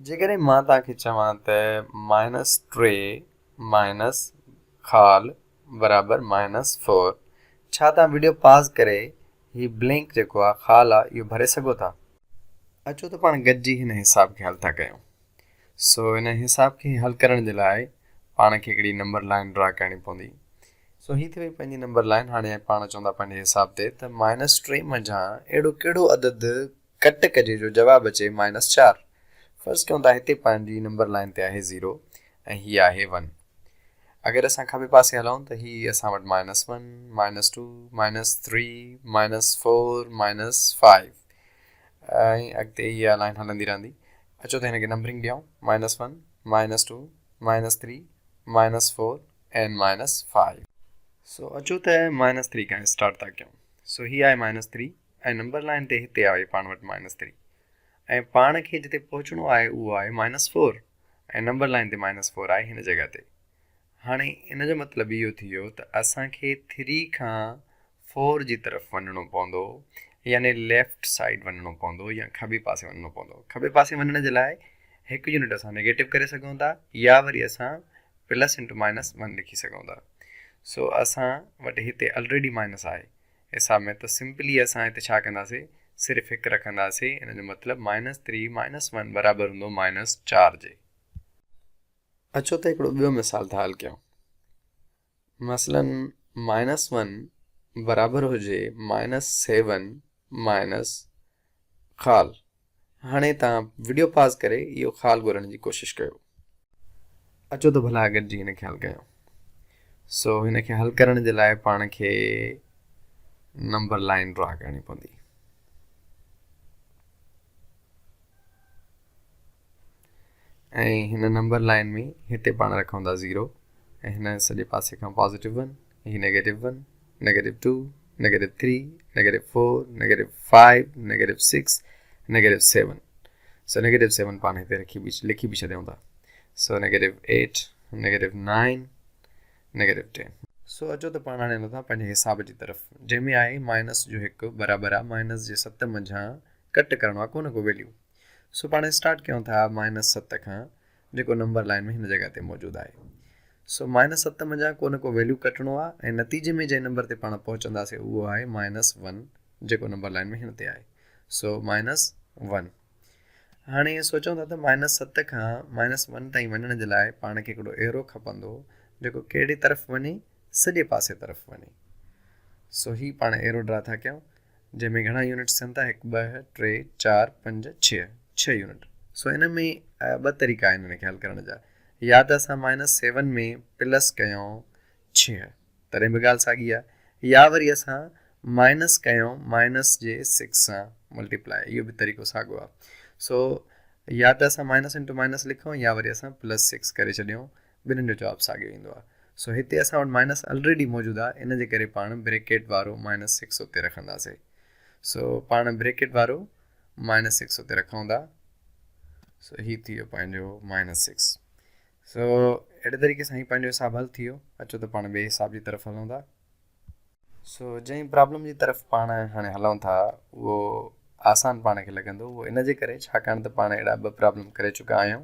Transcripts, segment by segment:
جيڪڏهن مان توهان کي چوان ته مائنس ٽي مائنس خال برابر مائنس فور ڇا توهان وڊيو پاز ڪري هي بلينڪ جيڪو آهي خال آهي اهو ڀري سگهو ٿا؟ اچو ته پاڻ گڏجي هن حساب کي حل ٿا ڪيون. سو هن حساب کي حل ڪرڻ جي لاء پاڻ کي هڪڙي نمبر لائن ڊرا ڪرڻي پوندي. سو هي ٿي وئي پنهنجي نمبر لائن هاڻي پاڻ چوندا پنهنجي حساب تي ته مائنس ٽي منجهان اهڙو ڪهڙو عدد ڪٽ ڪجي جو جواب اچي مائنس چار. فرض ڪيون ته هتي پنهنجي نمبر لائين تي آهي زيرو ۽ هي آهي ون. اگر اسان کٻي پاسي هلون ته هي اسان وٽ minus one, minus two, minus three, minus four, minus five ۽ اڳتي اها لائين هلندي رهندي. اچو ته هن کي نمبرنگ ڏيئون، minus one, minus two, minus three, minus four ۽ minus five. سو اچو ته مائنس ٿري کان اسٽارٽ ٿا ڪيون. سو هي آهي مائنس ٿري. ۽ نمبر لائين تي هتي آهي پاڻ وٽ مائنس ٿري ۽ پاڻ کي جتي پهچڻو آهي اهو آهي مائنس فور ۽ نمبر لائين تي مائنس فور آهي هن جڳهه تي هاڻي ان جو مطلب اهو ٿي ويو ته اسان کي ٿري کان فور جي طرف وڃڻو پوندو يعني ليفٽ سائيڊ وڃڻو پوندو يا کٻي پاسي وڃڻو پوندو کٻي پاسي وڃڻ جي لاء هڪ يونٽ اسان نيگيٽو ڪري سگهون ٿا يا وري اسان پلس انٽو مائنس ون لکي سگهون ٿا سو اسان وٽ هتي آلريڊي مائنس آهي حساب ۾ ته سمپلي اسان هتي ڇا ڪنداسي صرف هڪ رکنداسي ان جو مطلب مائنس ٿري مائنس ون برابر هوندو مائنس چار جي. اچو ته هڪڙو ٻيو مثال ٿا حل ڪيون مثلا مائنس ون برابر هجي مائنس سيون مائنس خال هاڻي توهان وڊيو پاز ڪري اهو خال ڳولڻ جي ڪوشش ڪيو. اچو ته ڀلا گڏجي هن کي حل ڪيون. سو هن کي حل ڪرڻ جي لاء پاڻ کي نمبر لائين ڊرا ڪرڻي پوندي. ۽ هن نمبر لائين ۾ هتي پاڻ رکون ٿا زيرو ۽ هن سڄي پاسي کان پازيٽو ون هي negative one, negative two, negative three, negative four, negative five, negative six, negative seven. سو نيگيٽو سيون پاڻ هتي رکي به لکي به ڇڏيون ٿا. سو negative eight, negative nine, negative ten. سو اچو ته پاڻ هاڻي لڌا پنهنجي حساب جي طرف جنهن ۾ آهي مائنس جو هڪ برابر آهي مائنس جي ست منجهان ڪٽ ڪرڻو آهي ڪو نه ڪو ويليو. سو پاڻ اسٽارٽ ڪيون ٿا مائنس ست کان جيڪو نمبر لائين ۾ هن جڳهه تي موجود آهي. سو مائنس ست منجهان ڪو نه ڪو ويليو ڪٽڻو آهي ۽ نتيجي ۾ جنهن نمبر تي پاڻ پهچنداسين اهو آهي مائنس ون جيڪو نمبر لائين ۾ هن تي آهي سو مائنس ون. هاڻي ائين سوچون ٿا ته مائنس ست کان مائنس ون تائين وڃڻ جي لاء پاڻ کي هڪڙو ايرو کپندو جيڪو ڪهڙي طرف وڃي سڄي پاسي طرف وڃي. سو هي پاڻ ايرو ڊرا ٿا ڪيون. جنهن ۾ گهڻا يونٽ ٿين ٿا، هڪ، ٻه، ٽي، چار، پنج، ڇهه، ڇهه يونٽ. سو ان ۾ ٻه طريقا آهن ان کي حل ڪرڻ جا. يا ته اسان مائنس سيون ۾ پلس ڪيون ڇهه، تڏهن به ڳالهه ساڳي آهي. يا وري اسان مائنس ڪيون مائنس جي سڪس سان ملٽيپلائي، اهو به طريقو ساڳو آهي. سو يا ته اسان مائنس انٽو مائنس لکون يا وري اسان پلس سڪس ڪري ڇڏيون ٻنهن جو جواب ساڳيو ايندو آهي. سو هتي اسان وٽ مائنس الريڊي موجود آهي ان جي ڪري پاڻ بريڪيٽ وارو مائنس سڪس اتي رکنداسي سو پاڻ بريڪيٽ وارو مائنس سڪس اتي رکون ٿا سو هي ٿي ويو پنهنجو مائنس سڪس سو اهڙي طريقي سان هي پنهنجو حساب حل ٿي ويو اچو ته پاڻ ٻئي حساب جي طرف هلون ٿا سو جنهن پرابلم جي طرف پاڻ هاڻي هلون ٿا اهو آسان پاڻ کي لڳندو اهو ان جي ڪري ڇاڪاڻ ته پاڻ اهڙا ٻه پرابلم ڪري چڪا آهيون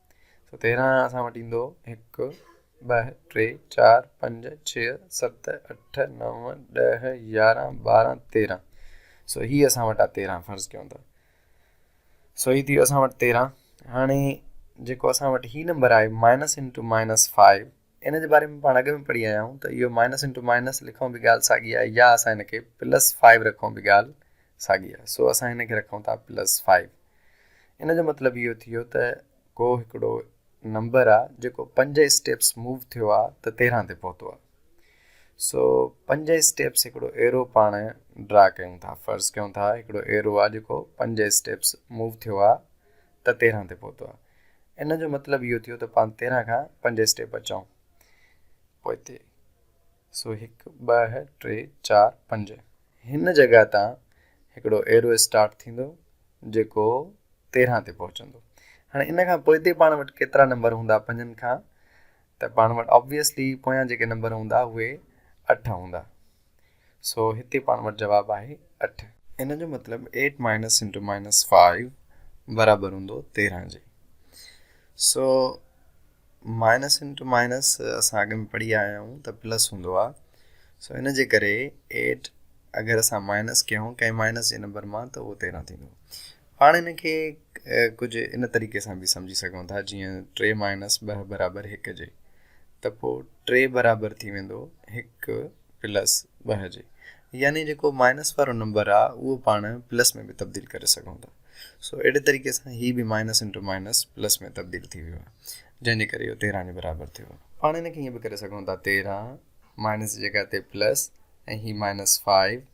سو تيرهن اسان وٽ ايندو هڪ ٻه ٽي چار پنج ڇهه ست اٺ نو ڏهه يارهن ٻارهن تيرهن سو هي اسان وٽ آ تيرهن فرض ڪيون ته سو هي ٿي ويو اسان وٽ تيرهن هاڻي جيڪو اسان وٽ هي نمبر آهي مائنس انٽو مائنس فائيو ان جي باري ۾ پاڻ اڳ ۾ پڙهي آيا آهيون ته اهو مائنس انٽو مائنس لکون به ڳالهه ساڳي آهي يا اسان هن کي پلس فائيو رکون به ڳالهه ساڳي آهي سو اسان هن کي رکون ٿا پلس فائيو ان جو مطلب اهو ٿي ويو ته ڪو هڪڙو نمبر آ جيڪو پنج اسٽيپس موو ٿيو آ ته تيرهن تي پهتو آ سو پنج اسٽيپس هڪڙو ايرو پاڻ ڊرا ڪيون ٿا فرض ڪيون ٿا هڪڙو ايرو آ جيڪو پنج اسٽيپس موو ٿيو آ ته تيرهن تي پهتو آ ان جو مطلب اهو ٿيو ته پان تيرهن کان پنج اسٽيپ اچون پوئتي سو هڪ ٻه ٽي چار پنج هن جڳهه تان هڪڙو ايرو اسٽارٽ ٿيندو جيڪو تيرهن تي پهچندو هاڻي ان کان پوئتي پاڻ وٽ ڪيترا نمبر هوندا پنجن کان ته پاڻ وٽ Obviously پويان جيڪي نمبر هوندا اهي اٺ هوندا سو هتي پاڻ وٽ جواب آهي اٺ. ان جو مطلب eight minus into minus five برابر هوندو تيرهن جي سو مائنس انٽو مائنس اسان اڳ ۾ پڙهي آيا آهيون ته پلس هوندو آهي سو ان جي ڪري ايٽ اگر اسان مائنس ڪيون ڪنهن مائنس جي نمبر مان ته اهو تيرهن ٿيندو پاڻ ان کي ڪجهه ان طريقي سان به سمجهي سگهون ٿا جيئن ٽي مائنس ٻه برابر هڪ جي ته پوء ٽي برابر ٿي ويندو هڪ پلس ٻه جي يعني جيڪو مائنس وارو نمبر آ اهو پاڻ پلس ۾ به تبديل ڪري سگهون ٿا سو اهڙي طريقي سان هي به مائنس انٽو مائنس پلس ۾ تبديل ٿي ويو آ جنهن جي ڪري اهو تيرهن جي برابر ٿيو پاڻ هن کي ائين به ڪري سگهون ٿا تيرهن مائنس جي جڳهه تي پلس ۽ هي مائنس فائيو